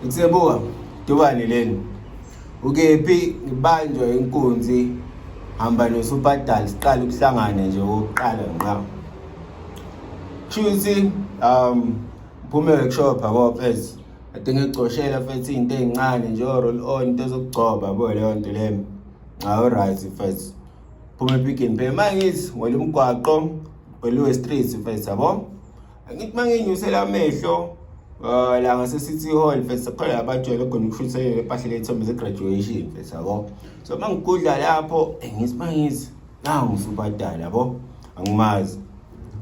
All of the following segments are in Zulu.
Ngisebuka dubane leni ukephi ngibanjwa inkunzi hamba nosupadal siqala ukuhlangana nje okokuqala nqa shuthi um phume workshop yabo fes adinga ecoshela fethi into ezincane nje roll on into zokugcoba bo leyo nto le nxa u right fes phume pick and pay mangithi wena umgwaqo weluwe street fes yabo angithi uma nginyusela amehlo uh, la ngase-city hall mfethu sakhona labajwayele khona ukushuthelela empahlele ethombe ze-graduation mfethu yabo so uma ngigudla lapho eh, ngithi uma ngithi nangu usubadala yabo angimazi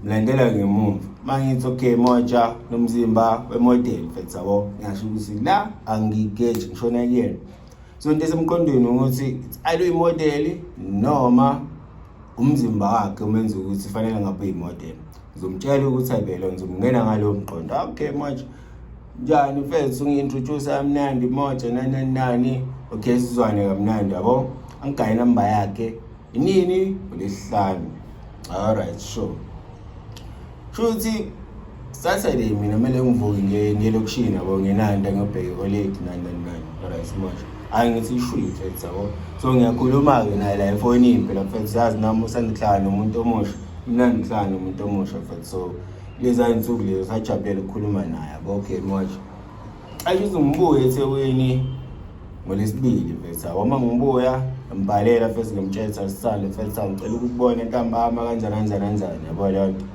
mlandela ngemumva uma ngithi okay moja nomzimba wemodeli mfethu yabo ngingasho ukuthi la angigeji ngishona kuyena so into esemqondweni ukuthi ayibe imodeli noma umzimba wakhe umenza ukuthi fanele ngabe uyimodeli ngizomtshela ukuthi ayibelo ngizomngena ngalowo mqondo okay manje njani mfethu ungi-introduce amnandi moja nanani nani okay sizwane kamnandi yabo angigaye inamba yakhe inini ngolesihlanu alright sure shuthi saturday mina kumele ngivuke ngiye elokishini yabo nginanda ngiyobheka ikoledi nani nani nani alright manje hayi ngithi ishwile mfethu yabo so ngiyakhuluma-ke naye la efonini phela mfethu zazi nami usandihlala nomuntu omusha mina ndihlala nomuntu omusha mfethu so lezaa nsuku lezo sajabulele ukukhuluma naye yabo okay manje Ayi uzungibuye eThekwini ngolesibili mfethu wama ngibuya ngibhalela mfethu ngimtshela sisale mfethu ngicela ukubona entambama kanjani kanjani kanjani yabo leyo nto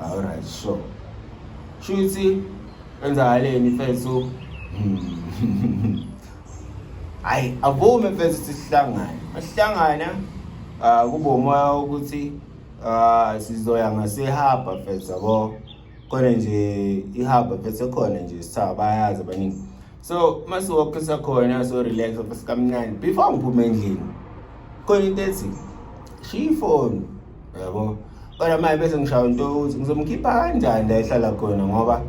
all right sure shuthi kwenzakaleni mfethu hayi hmm. avume mfethu sihlangane asihlangana ah, kube umoya ukuthi ah, sizoya ngasehaba mfethu yabo khona nje ihaba vese khona nje sithaba bayazi abaningi so masiwoke sakhona so relax sikamnandi before ngiphume endlini khona into ethi shiya ifoni yabo kodwa manje bese ngishaya into ukuthi ngizomkhipha kanjani la ehlala khona ngoba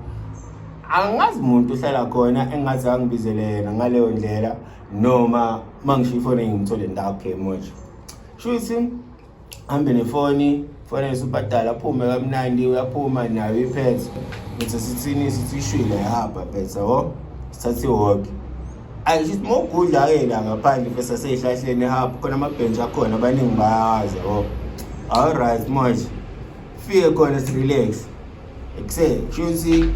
angazi umuntu uhlala khona engathi angibizele yena ngaleyo ndlela noma uma ngisho ifoni ngimthole ndakhe manje shuthi hambe nefoni fanele usubhadala aphume kamnandi uyaphuma nayo iphethe ngithi sithini sithi ishwile yahamba phethe yabo sithathe iwoke ayi shithi uma ugudla-ke la ngaphandle fesa seyihlahleni ehamba khona amabhentshi akhona abaningi bayawazi yabo all right manje fike khona sirelaxe ekuseni kusho ukuthi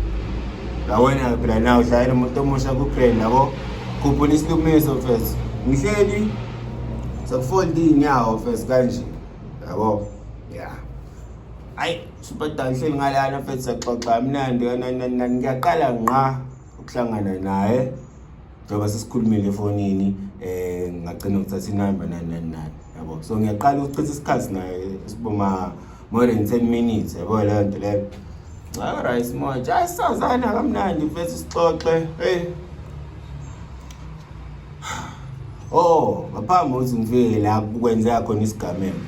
ngawena phela na ushayela umuntu omusha kuplane nabo khuphula isilumiso fes ngihleli sekufolda iy'nyawo fes kanje yabo ya ayi superdan ngihleli ngalana fes saxoxa mnandi kananani ngiyaqala nqa ukuhlangana naye njengoba sesikhulumile efonini um ngagcina ngithatha inamba nani nani nani yabo so ngiyaqala ukuchitha isikhathi naye siboma more than 10 minutes yabo leyo nto leyo alright manje ayi sazana kamnandi mfethu sixoxe hey oh ngaphambi ukuthi ngifike la kukwenzeka khona isigameko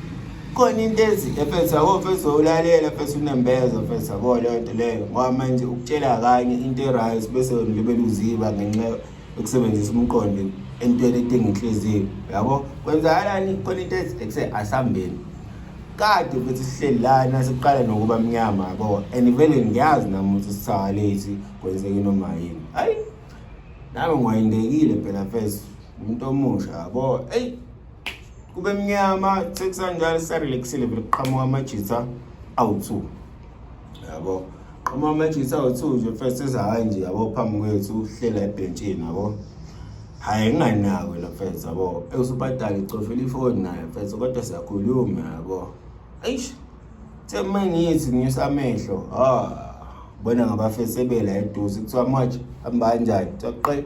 khona into ezi efethu yabo mfethu ulalela mfethu unembeza mfethu yabo leyo nto leyo ngoba manje ukutshela kanye into e-right bese wena libe luziba ngenxa ukusebenzisa umqondo entweni edinga inhliziyo yabo kwenzakalani khona into ekuse asambeni kade futhi sihleli lana siqala nokuba mnyama yabo and vele ngiyazi nami ukuthi sisakalethi kwenzeke noma yini hayi nami ngwayindekile phela fes umuntu omusha yabo eyi kube mnyama sekusanjalo sisarelaxile vele kuqhamuka amajitha awu-two yabo uma matches awu-two nje first ethi hhayi nje yabo phambi kwethu uhlela ebhentshini yabo hhayi nginganako la first yabo eusubadala icofela ifoni naye first kodwa siyakhuluma yabo eish the uma ngithi ngiyisa amehlo ah bona ngabafesebela eduze kuthiwa manje hamba kanjani kuthiwa qe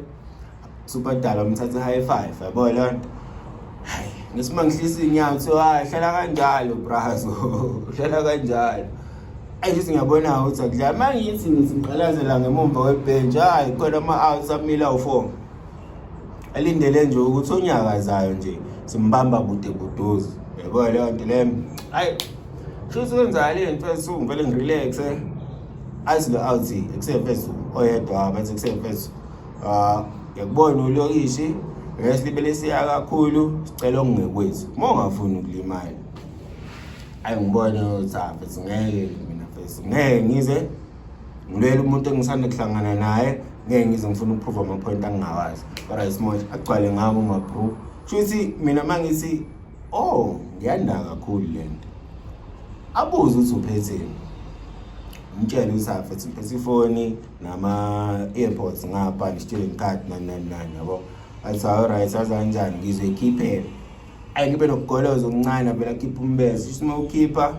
Superdala umthathe high five yabo leyo nto. Hayi, ngisima ngihlisa inyawo kuthiwa hayi hlala kanjalo brazo. Hlala kanjalo. Ayi ngithi ngiyabona ukuthi akudlala. Uma ngithi ngithi ngiqalazela ngemumva kwebhenji hayi khona ama-outs amila u-four. Alindele nje ukuthi onyakazayo nje simbamba kude kuduze. Yabo leyo nto leyo. Hayi. Shuthi kwenzala le nto esuku ngivele ngirelaxe. Azi lo-out ekusefesu oyedwa bathi ekusefesu. Ah, ngiyakubona ulokishi rest ibele siya kakhulu sicela okungekwethi uma ungafuni ukulimala ayi ngibone uthafe singeke mina fesi ngeke ngize ngilwele umuntu engisanda kuhlangana naye ngeke ngize ngifuna ukuphruva amaphoyinti angingawazi kodwa isimosh agcwale ngako umabru shuthi mina uma ngithi o oh, ngiyanaka kakhulu le nto abuze ukuthi uphetheni umtshele ukuthi afethi ngiphethe ifoni nama-airpods ngapha ndisitshele ngikhathi nani nani nani yabo athi awuright sazanjani ngizwe ikhiphele ayi ngibe nokugoloza okuncane avela khipha umbeza shuthi uma ukhipha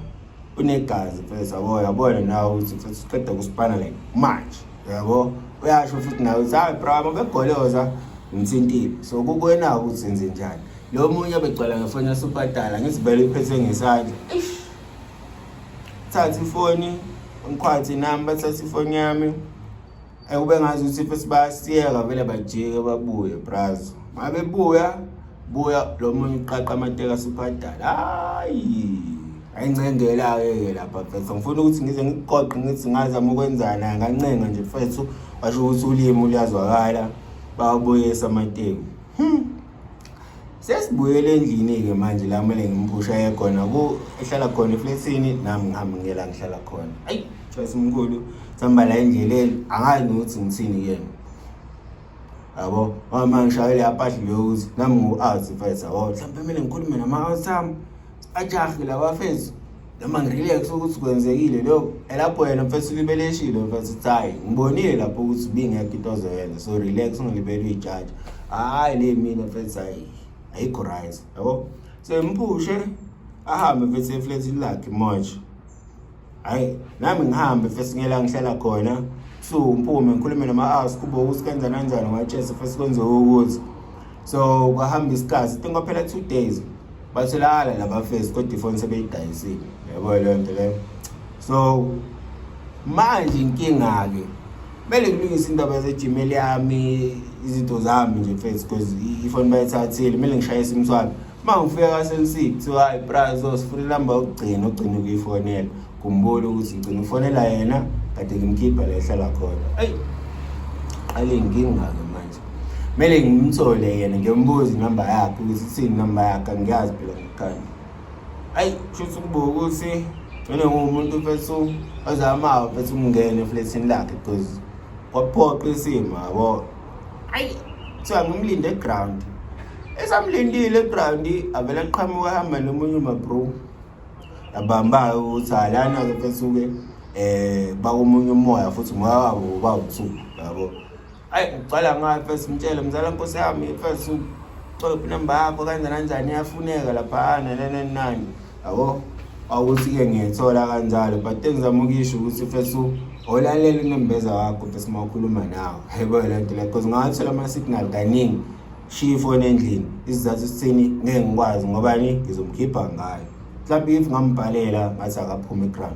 unegazi mfethu yabo yabona nawe ukuthi mfethu uqeda kusipana like manje yabo uyasho futhi nawe ukuthi hayi bravo begoloza ngimthintile so kukwena-ke ukuthi senze njani lo munye abegcwala ngefoni yasubhadala ngizibele iphethe ngesandla thatha ifoni ngikhwathi nami bathatha ifoni yami ekube ngazi ukuthi ife sibasiyeka vele bajike babuye brazo uma bebuya buya lo munye uqaqa amateka sibhadala hayi ayincengela-ke-ke lapha mfethu ngifuna ukuthi ngize ngikuqoqe ngithi ngazama ukwenzana ngancenga nje mfethu washo ukuthi ulimi luyazwakala bawabuyisa amateku hmm. sesibuyele endlini-ke manje la kumele ngimphusha ye khona ku ehlala khona eflethini nami ngihambe ngiyela ngihlala khona ayi choice mkhulu sihamba la endleleni angazi nokuthi ngithini kuyena yabo mama ngishayele apahli leyokuthi nami ngu-out mfethu yabo mhlawumpe kumele ngikhulume nama-out ami ajahe lawa fethu noma ngirelax ukuthi kwenzekile lokho elapho yena mfethu ulibeleshile mfethu ukuthi hhayi ngibonile lapho ukuthi bingekho into ozoyenza so relax ungilibele uyijaji hhayi le mina mfethu hhayi ayikho right yabo so ngiphushe ahambe mfethu efletini lakhe manje hayi nami ngihambe fesi ngela ngihlala khona so ngiphume ngikhulume nama-house kubo ukuthi kwenza nanjani ngachese fesi kwenze ukuthi so kwahamba isikhathi tingo phela two days batholakala laba fesi kodwa ifoni sebeyidayisile yabo leyo nto leyo so manje inkinga-ke kumele ngilungise indaba yasegmail yami izinto zami nje fesi because ifoni bayithathile kumele ngishayise imswabi uma ngifika kasensi kuthiwa hayi bra so sifuna inamba yokugcina ogcina ukuyifonela kumbona ukuthi ngigcina ufonela yena kade ngimkhipha la ehlala khona eyi qale ngingake manje kumele ngimthole yena ngiyombuza inamba yakhe ukuthi ithini inamba yakhe angiyazi phela ngikanye ayi shuthi ukubuka ukuthi ngene ngumuntu fethu ozamayo fethu ukungena eflethini lakhe because kwaphoqa isimo yabo ayi kuthiwa ngimlinde eground esamlindile eground avele aqhamuka ahamba nomunye umabro abamba-ke ukuthi halana-ke fesuke um eh, bakomunye umoya futhi umoya wabo bawubusuku yabo ayi ucala ngayo fesi mtshele mzala nkosi yami fesi ucophi namba yakho kanjani kanjani iyafuneka laphana nanani nani yabo awuthi-ke ngiyithola kanjalo but engizama ukuyisho ukuthi fesu olalela unembeza wakho fesu uma ukhuluma nawo yebo le nto le cause ngawathola ama-signal kaningi shiya ifoni endlini isizathu sithini ngeke ngikwazi ngobani ngizomkhipha ngayo mhlawumbe if ngambhalela ngathi akaphume igram